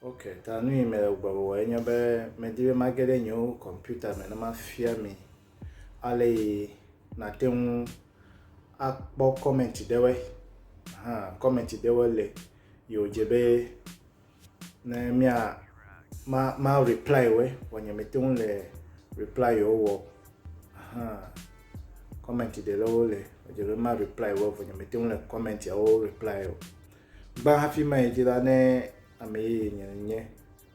Ok, ta nu yi mele gbɔgbɔgblɔ enye be medi be mage ɖe nye kɔmputa me ne mafia mi ale yi nate ŋu akpɔ kɔmɛnti ɖewoe. Hã kɔmɛnti ɖewoe le yi wòdze be ne mia ma ma reply wɛ vɔ nye mete ŋu le reply yewo wɔ ahan comment ɖe le wo le edze be ma reply wɔ vɔ nye mete ŋu le comment yawo reply o gba hafi ma yi dzi la ne ame yeye nye nye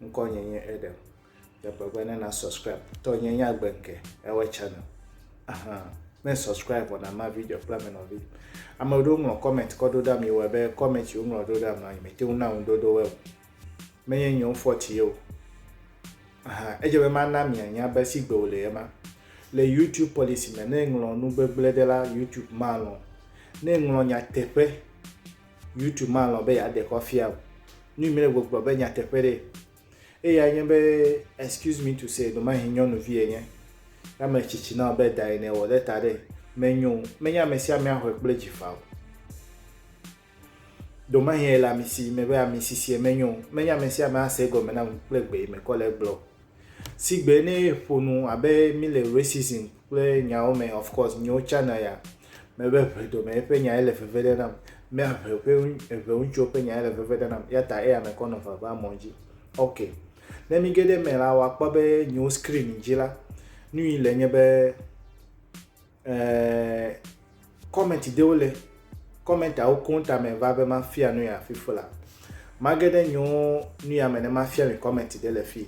ŋkɔ nye nye Adam Teƒe be ne na subscribe. Tɔ nye nya gbe ke ewe channel. Aha. Ne subscribe wana ma video kple me nɔvi. Ame ɖewo ŋlɔ comment kɔ ɖo ɖa mi wɔ be comment wo ŋlɔ ɖo ɖa mi nɔ me te na ŋu dodo we. Me nye nyo fɔti yo. Aha. Eje be ma na mi anya be si gbe wo le yema. Le YouTube policy me ne ŋlɔ nu gbegble de la YouTube ma lɔ. Ne ŋlɔ nya teƒe YouTube ma lɔ be ya de kɔ fia. Nu mi le gbogbo be nya teƒe de. Eyae nye be, excuse me to say, ɖemahe nyɔnuvi enye. Ne ame tsitsi na be da ene wɔ ɖe ta ɖe, menyo o. Menye ame sia amea xɔe kple dzi faa o. Ɖemahe ele ami si me be ami sisie menyo o. Menye ame sia ame ase egɔme na ŋu kple gbe yi me kɔ le egblɔ o. Sigbe ne ƒo nu abe mí le racism kple nyawo me of course nyewo tsana ya mebe ʋedomɛ eƒe nya ele veve ɖe nam me ʋe ƒe ʋe ŋutsuwo ƒe nya ele veve ɖe nam ya ta eya mekɔ nɔ vava mɔ dzi ok ne mi ge ɖe me la wakpɔ be nyewo screen dzi la nu yi le nye be ɛɛ comment ɖewo le commentawo koŋ tame va be mafia nu ya fifu la mage ɖe nyewo nu ya me ne mafia mi comment ɖe le fii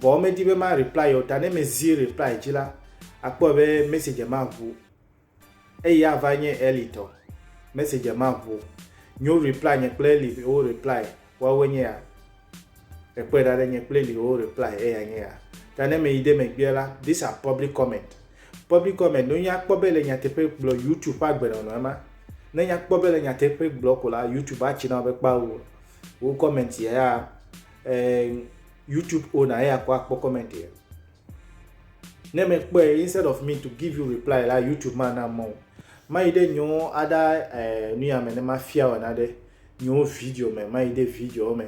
Vɔ medi be ma reply yeo ta ne mezi reply dzi la akpɔe be message ma ʋu. Eyi ava nye Ellie tɔ. Message ma ʋu. Nyo reply nye kple Ellie wo reply woawoe nye ya. Ekpɔe ɖa ɖe nye kple Ellie wo reply eya nye ya. Ta ne meyi ɖe megbea la, these are public comment. Public comment no nya kpɔ be le nyateƒe gblɔ YouTube ƒe agbenɔnɔe ma. Ne nya kpɔ be le nyateƒe gblɔ ko la YouTube atsi na be kpao. wo comment ya ya eh, youtube owner ya kɔ akpɔ comment ya ne me kpɔe instead of me to give you reply la youtube ma na mɔ mayi ɖe nyewo aɖa eh, nu ya me ne mafia wɔ na ɖe nyewo video me mayi ɖe video me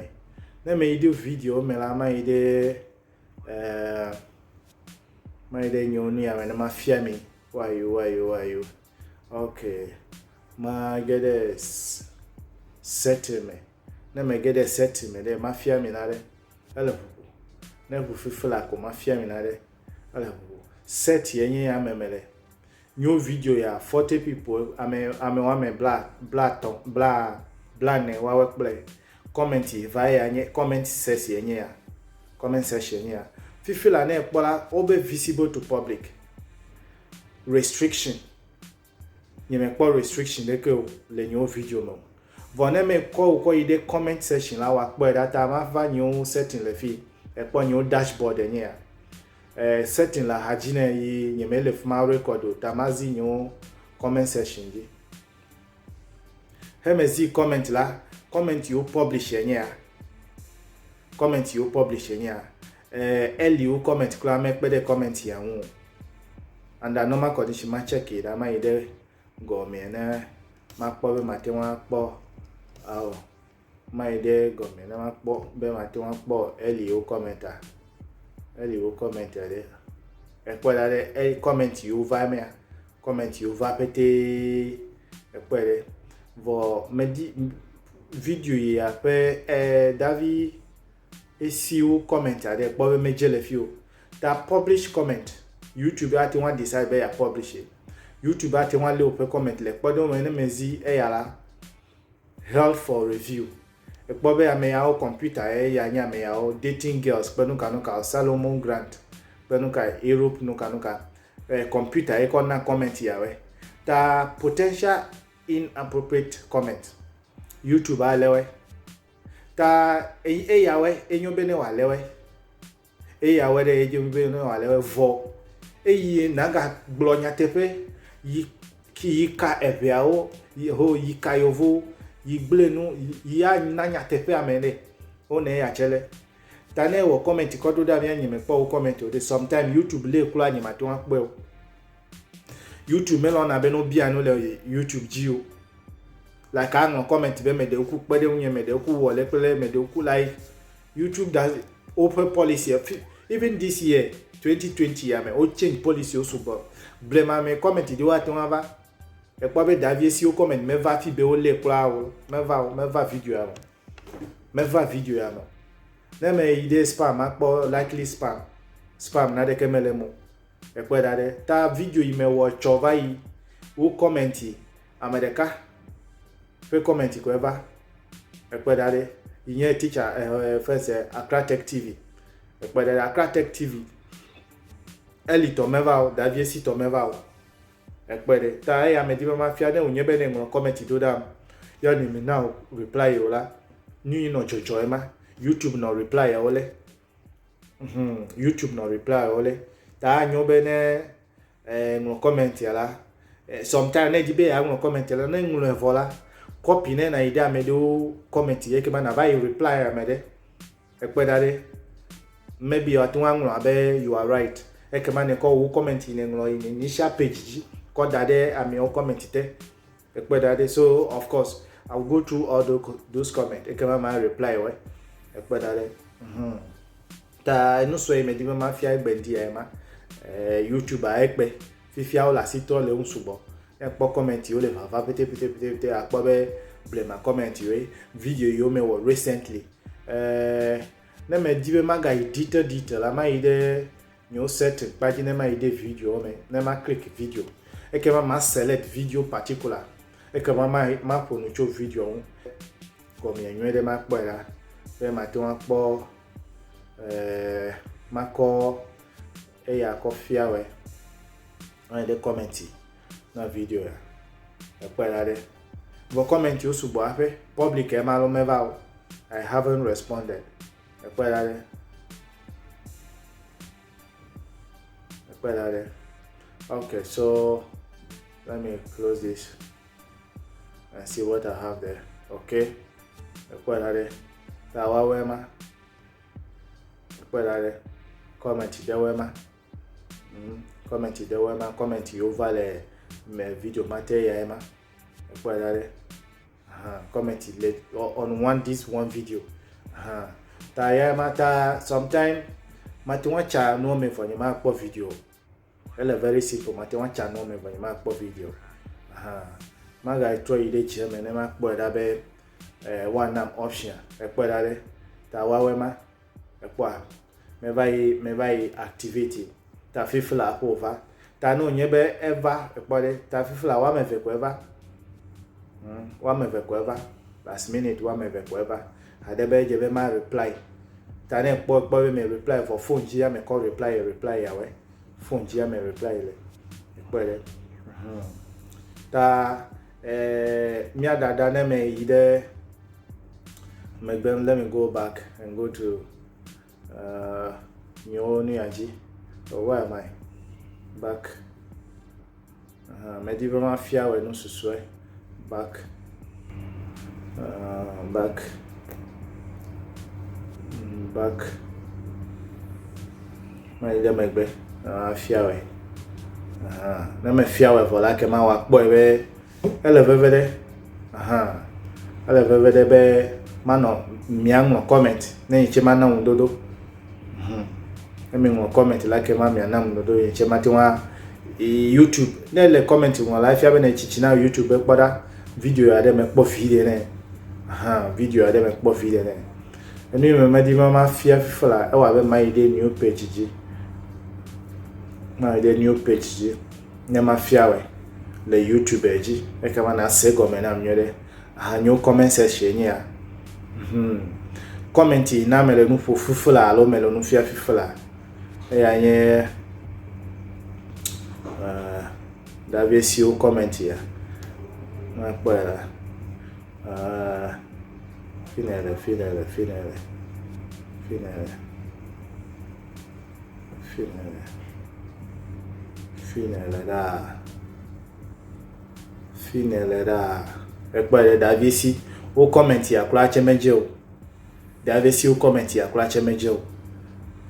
ne me yi ɖe video me la mayi ɖe eh, mayi ɖe nyewo nu ya me ne mafia mi wayo wayo wayo Ok, mage ɖe setting me. Ne mege ɖe setting me ɖe, mafia mi na ɖe. Ele ʋuʋu. Ne ʋu fifla ko mafia mi na ɖe. Ele ʋuʋu. Set ye nye ame me le. Nyo video ya forty people ame ame wame bla bla tɔ bla bla ne wawe kple comment ye va ya nye comment ses ye nye ya. Comment section ye nye ya. Fifla ne ekpɔ la, wo be visible to public. restriction nye me kpɔ restriction ɖe ke o le nyewo video me vɔ ne me kɔ o kɔ yi ɖe comment section la wa kpɔ ɖa ta ma va nyewo setting le fi e kpɔ nyewo dashboard e nye ya e setting la hadzi ne yi nye me le fuma record o ta ma zi nyewo comment section dzi he me zi comment la comment yo publish e nye ya comment yo publish e nye ya Eh Ellie wo comment kura me kpe ɖe comment ya ŋu o. Under normal condition ma check yi ɖa ma yi ɖe gɔmea ne ma kpɔ be ma te ŋu akpɔ ao ma yi ɖe gɔmea ne ma kpɔ be ma te ŋu akpɔ Ellie wo comment a Ellie wo comment a ɖe ekpɔ ɖa ɖe e comment yi wo va mea comment yi wo va pete ekpɔ ɖe vɔ medi video yi aƒe eh davi Esi wo comment aɖe èkpɔ be medze le fi o, ta publish comment, YouTube ate ŋu a decide be ya publish ye. YouTube ate ŋu alé wòƒe comment le kpɔɖeŋu me ne mezi eya la held for review. Èkpɔ be ameyawo computer ye ya nye ameyawo, dating girls kple nuka nuka o, Salomon Grant kple nuka Europe nuka nuka, eh, computer ye kɔ na comment yawɔe. Ta potential inappropriate comment, YouTube alé wɔe. Ta enyi eya wɛ enyo be ne wòalé wɛ. Eya wɛ ɖe edze be ne wòalé wɛ vɔ. Eye nagagblɔ nyateƒe yi ki yi ka eŋeawo yi ho yi ka yevowo yi gblẽ nu yi ya na nyateƒe ame ɖe wo ne eya tse lɛ. Ta ne ewɔ kɔmɛnti kɔ ɖo ɖa mía nye mekpɔ wo kɔmɛnti o ɖe sometime youtube lɛ kloa nye mate ŋu akpɔɛ o. YouTube melɔna be no bia no le YouTube dzi o. Like I know comment be me de oku kpe de unye me de oku wo le kple me de oku like YouTube does open policy even this year 2020 ya me o change policy o sugbɔ. Ble ma me comment de wa tona va. E kpɔ be David si o comment me va fi be o le kula o me va o me va video a o. meva video ya me ne me yi ɖe spam makpɔ likely spam spam na ɖeke me le mo ekpɔ da ɖe ta video yi me wɔ tsɔ va yi wo comment yi ame ɖeka ƒe comment kɔ eva ekpɔ da ɖe yi nye teacher eh, eh, first eh, Accra Tech TV ekpɔ da ɖe Accra Tech TV eli tɔ meva o davie si tɔ meva o Ekpe ɖe ta eya medi be mafia ne wònye be ne ŋlɔ kɔmɛti do ɖam yɔ ne mi na reply ye o la, nu yi nɔ dzɔdzɔ ema. YouTube nɔ reply yawo le. Hum, YouTube nɔ reply yawo le. Ta anyo be ne eh, ŋlɔ kɔmɛti ya la, eh, sometime ne di be ya ŋlɔ kɔmɛti la, ne ŋlɔ evɔ la, kɔpi ne na yi ɖe ame ɖewo kɔmɛti yɛ kema na va yi reply ame ɖe. Ekpe ɖa ɖe, maybe wòate ŋu aŋlɔ abe you are right. Ekema nèkɔ wò comment yi nèŋlɔ yi initial page dzi kɔ da ɖe ameawo comment te. Ekpe ɖa ɖe. So of course I will go through all those those comment ekema ma reply wɔe. Ekpe ɖa ɖe. Mhm. Ta enu sue yi medi be mafia egbe ŋdi ya ye ma. Eh, YouTube a ekpe. Fifia wole asi trɔ le eŋu sugbɔ. Ne èkpɔ comment yiwo le vava petepetepete akpɔ be blema comment yiwoe, video yiwo mewɔ recently. Eh, ne medi be magayi detail detail la, mayi ɖe nyewo setting kpa dzi ne mayi ɖe videowo me, ne ma click video. Ekema ma select video particular. Ekema ma maƒo nu tso video ŋu. Gɔmea nyuie ɖe makpɔe la, be mate ŋu akpɔ eh makɔ Eya kɔ fiawɛ. Ɔyɛ ɖe kɔmɛnti na video ya. Ekpɔe la ɖe. Vɔ kɔmɛnti wo sugbɔ aƒe. Public ema alo meva o. I haven't responded. Ekpɔe la ɖe. Ekpɔe la ɖe. Okay, so let me close this and see what I have there. Okay. Ekpɔe la ɖe. Ta woawɔe ma. Kpɔe la ɖe, kɔmɛnti ɖewoe ma. Mm, kɔmɛnti ɖewoe ma, kɔmɛnti yiwo va le mɛ video ma te yae ma. Kpɔe la ɖe, uh, kɔmɛnti le on one this one video. Uh, ta yae ma ta sometime mate ŋu atsa nuwo mɛ vɔ nyemakpɔ video o. Ele very simple, mate ŋu atsa nu wɔmeve nye makpɔ video hã. Magatrɔ yi ɖe dzia me ne makpɔe ɖa be eh, woanam option ekpɔe ɖa ɖe ta woawɔe ma ekpɔa meva yi meva yi activity ta fifla ƒo va ta ne wònye be eva ekpɔ ɖe ta fifla woame eve ko eva hmm, woame eve ko eva last minute woame eve ko eva Ade be edze be ma reply ta ne ekpɔ ekpɔ be me reply vɔ phone dzi ya me kɔ reply ye reply ya we phone dzi ya me reply ye le ekpɔ le hmm. ta eh, mia dada ne me yi de megbe let me go back and go to Uh, nyewo nu ya dzi. Oh, where am I? Back. Uh, medi be mafia wɔ nu susue. Back. Uh, back. Mm, back. Mali ɖe megbe. Mafia wɔ. Uh, ne mefia wɔ vɔ la, ke ma wakpɔe be Ele veve ɖe, aha, ele veve ɖe be manɔ mia ŋlɔ comment ne yitse mana ŋu dodo. Hmm. Ne mi ŋlɔ comment la ke ma mia nam dodo yitse ma te wa YouTube. Ne le comment ŋlɔ la fia be ne tsitsi na YouTube be kpɔ ɖa video ya ɖe me kpɔ vi ɖe ne. Aha, video ya ɖe me kpɔ vi ɖe ne. Enu yi me medi ma ma fia fifa la ewa be ma yi ɖe new page dzi. Ma yi ɖe new page dzi. ne mafia wɛ le youtube dzi ekema nase gɔme nam nyuie ɖe ahanyo comment section nye ya hmm. comment yi na mele nu ƒo fifi la alo mele nu fia fifi la eya nye uh, davie siwo comment ya nakpɔe la uh, finele finele finele finele Fi yi nèle, fi yi nèle ɖaa, fi yi nèle ɖaa. Ekpɔe ɖe Davi si wo comment ya kura tse medze o. Davi si wo comment ya kura tse medze o.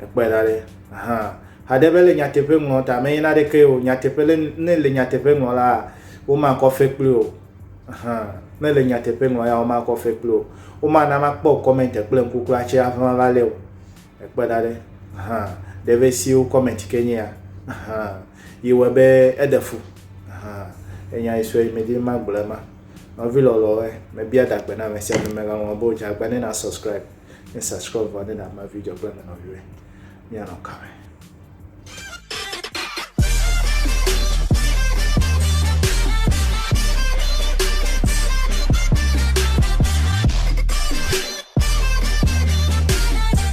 Ekpɔe ɖa ɖe. Ahan. Haɖe be le nyateƒe ŋlɔ ta menye na ɖeke o. Nyateƒe le ne le nyateƒe ŋlɔ la womakɔ fe kpli o. Ahan. Ne le nyateƒe ŋlɔ ya womakɔ fe kpli o. Womana makpɔ comment kple ŋku kura tse hafi mava lé o. Ekpe ɖa ɖe hã ɖe be siwo comment ke nye ya hã yi wɔ be eɖe fu hã enya yi sue me di ma gblɔ ma nɔvi lɔlɔ we me bia da gbe na me sia me ga ŋlɔ bo dza gbe ne na subscribe ne subscribe vɔ ne na ma video gbe me nɔvi we mia nɔ ka me